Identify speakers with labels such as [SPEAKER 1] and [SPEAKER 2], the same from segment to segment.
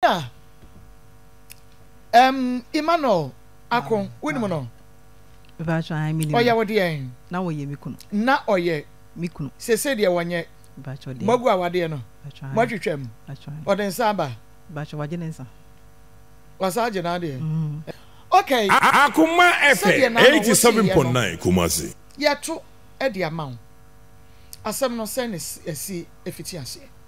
[SPEAKER 1] Ɛnna ɛm Emmanuel Ako, wonim no? Mpacho
[SPEAKER 2] ae menim no. Ɔyɛ wo deɛn? Na
[SPEAKER 1] ɔyɛ me kunu.
[SPEAKER 2] Na ɔyɛ
[SPEAKER 1] me kunu. Sese
[SPEAKER 2] deɛ wɔnyɛ.
[SPEAKER 1] Mpacho deɛ. Moagu
[SPEAKER 2] awadeɛ no. Mpacho
[SPEAKER 1] ae. Moatwitwa mu.
[SPEAKER 2] Mpacho ae.
[SPEAKER 1] Ɔde nsa
[SPEAKER 2] aba.
[SPEAKER 1] Mpacho wagye ne nsa.
[SPEAKER 2] Wasa
[SPEAKER 1] agye n'adeɛ. Mm. Okay. Akoma
[SPEAKER 3] ɛpɛ, 87.9 Kumasi. Yɛto
[SPEAKER 1] de ama wo. Asɛm no sɛn na ɛsi ɛfiti aseɛ?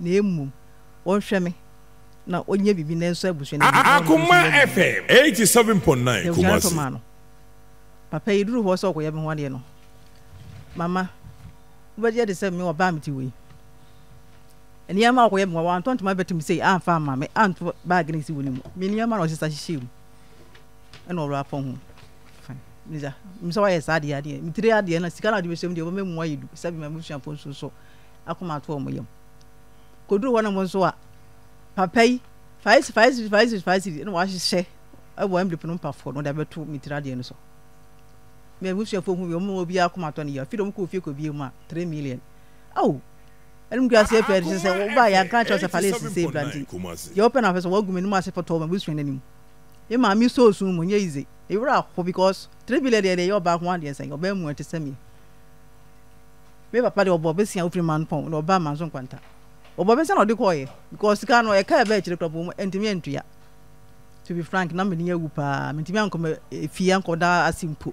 [SPEAKER 2] na mmom ɔnhwɛ me na ɔnyɛ biribi na ɛnsɔ abusua no ani. Akoma
[SPEAKER 3] FM eighty seven point nine Kumasi. Papa
[SPEAKER 2] yɛduru hɔ sɛ ɔkɔyɛ me ho adeɛ no mama wobɛgye adi sɛ me ɔbaa mete wei nneɛma a ɔkɔyɛ me hɔ wantɔ ntoma bɛtem sei amfa ama me anto baage no si wɔ ne mu me nneɛma na ɔsesa hyehyɛ mu ɛna ɔwura apɔn ho misa misa wayɛ saa adeɛ adeɛ metire adeɛ na sika na ɔde bɛhyɛ mu deɛ ɔbɛma mu ayɛ du sɛ bima musuafoɔ nso so akoma ato wɔn yam. Koduru hɔ nom nso a, papa yi, five cedis, five cedis, five cedis, five cedis, ɛna wahyehyɛ ɛwɔ envelope no mpafoɔ no, ɔde abɛto me tiri adeɛ no so. Me abusuafoɔ hu bi, wɔn obi akoma atɔ ne yam. Afei de wɔn kɔɔ fie kɔbie mu a, three million. Ao! ɛnum kura ase pɛɛ de sɛ wɔba yɛ ankra kyerɛ sɛ fale esisi ebira nti deɛ wɔpɛ na wɔpɛ sɛ wɔagu m'anim ase pɔtɔ wɔn abusua n'anim yɛ maame so osun mu nyɛ yize ewura ho because three billion deɛ deɛ yɛ ɔbaa ho adeɛ sɛn ɔbaa mu ɛte sɛ mi Me papa deɛ ɔbɔ besia ofiri man pɔn na ɔbaa manso nkwanta ɔbɔ besia na ɔde kɔɔyɛ because sika no ɛka ɛbɛ akyire kura po mu ɛntumi ɛntua to be frank na mani awu paa mentumi ankɔ me fie ankɔ da ase mpo.